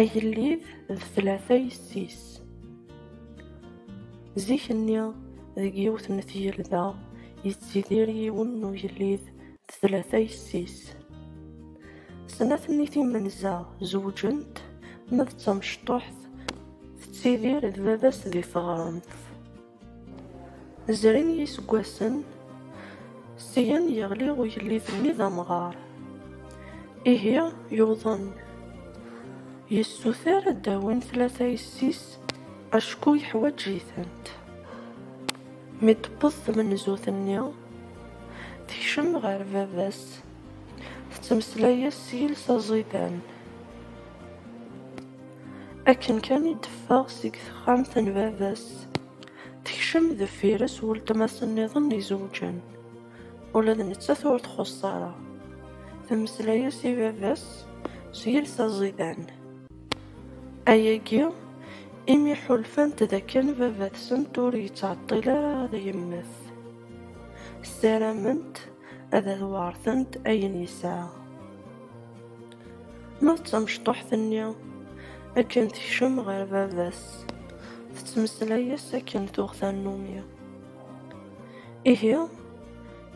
Agellid d tlata yessi-s. Zik-nni, deg yiwet n tgelda, yettidir yiwen n ugellid d tlata yessi-s. Snat-nni timenza zewǧent, ma d tamecṭuḥt tettidir d baba-s di teɣremt. Zrin yiseggasen, syen yeɣli ugellid-nni d amɣar. Ihi yuḍen, yessuter ad d-awin tlata yessi-s acku yeḥwaǧ-itent. Mi d-tewweḍ tmenzut-nni, tekcem ɣer baba-s, tettmeslay-as s yiles aẓidan. Akken kan i d-teffeɣ seg texxamt n baba-s, tekcem deffir-s weltma-s nniḍen izewǧen. Ula d nettat ur txuṣṣ ara. Temmeslay-as i baba-s s yiles aẓidan. Ayagi imi ḥulfant d akken baba-tsent ur yettɛeṭṭil ara ad yemmet. Ssarament ad d-weɛṛtent ayen yesɛa. Ma d tamecṭuḥt-nni, akken tekcem ɣer baba-s, tettmeslay-as akken tuɣ tannumi. Ihi,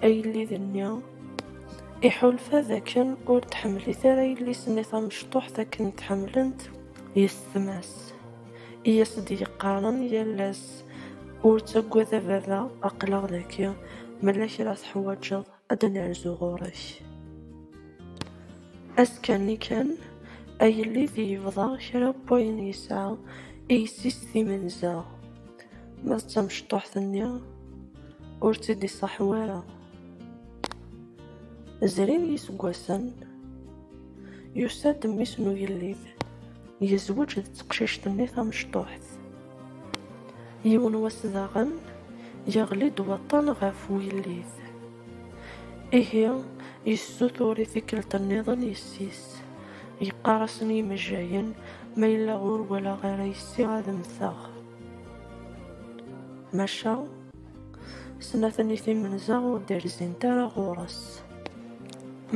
agellid-nni iḥulfa d akken ur tḥemmlit ara yelli-s-nni tamecṭuḥt akken tḥemmlent yessetma-s, i as-d-yeqqaren yal ass, Ur ttaggad a baba, aql-aɣ dagi, mella kra teḥwaǧeḍ. ad nerzu ɣur-k. Ass kan i kan, agellid yebḍa kra n wayen yesɛa i yessi-s timenza, ma d tamecṭuḥt-nni ur tt-id-iṣaḥ wara. Zrin yiseggasen, yusa-d mmi-s n ugellid, yezweǧ d teqcict-nni tamecṭuḥt. Yiwen wass daɣen, yeɣli-d waṭṭan ɣef wullis. Ihi, yessutur i tikkelt nniḍen yessi-s. Yeqqar-asen i yimejjayen, ma yella ur walaɣ ara yessi ad mmteɣ. Maca, snat-nni timenza ur d-rzint ara ɣur-s.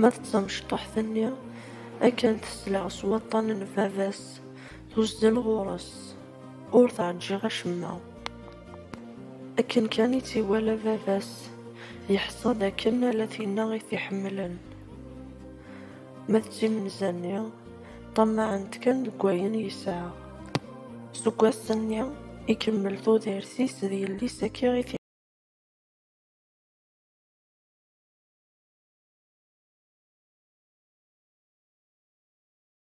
Ma d tamecṭuḥt-nni, akken tesleɣ s waṭṭan n baba-s, Tuzzel ɣur-s, ur teṛǧiɣ acemma. Akken kan i tt-iwala baba-s, yeḥṣa d akken ala tinna i t-iḥemmlen. Ma d timenza-nni, ṭṭamaɛent kan deg wayen yesɛa. Seg wass-nni, ikemmel tudert-is d yelli-s akka i t-iḥemmel.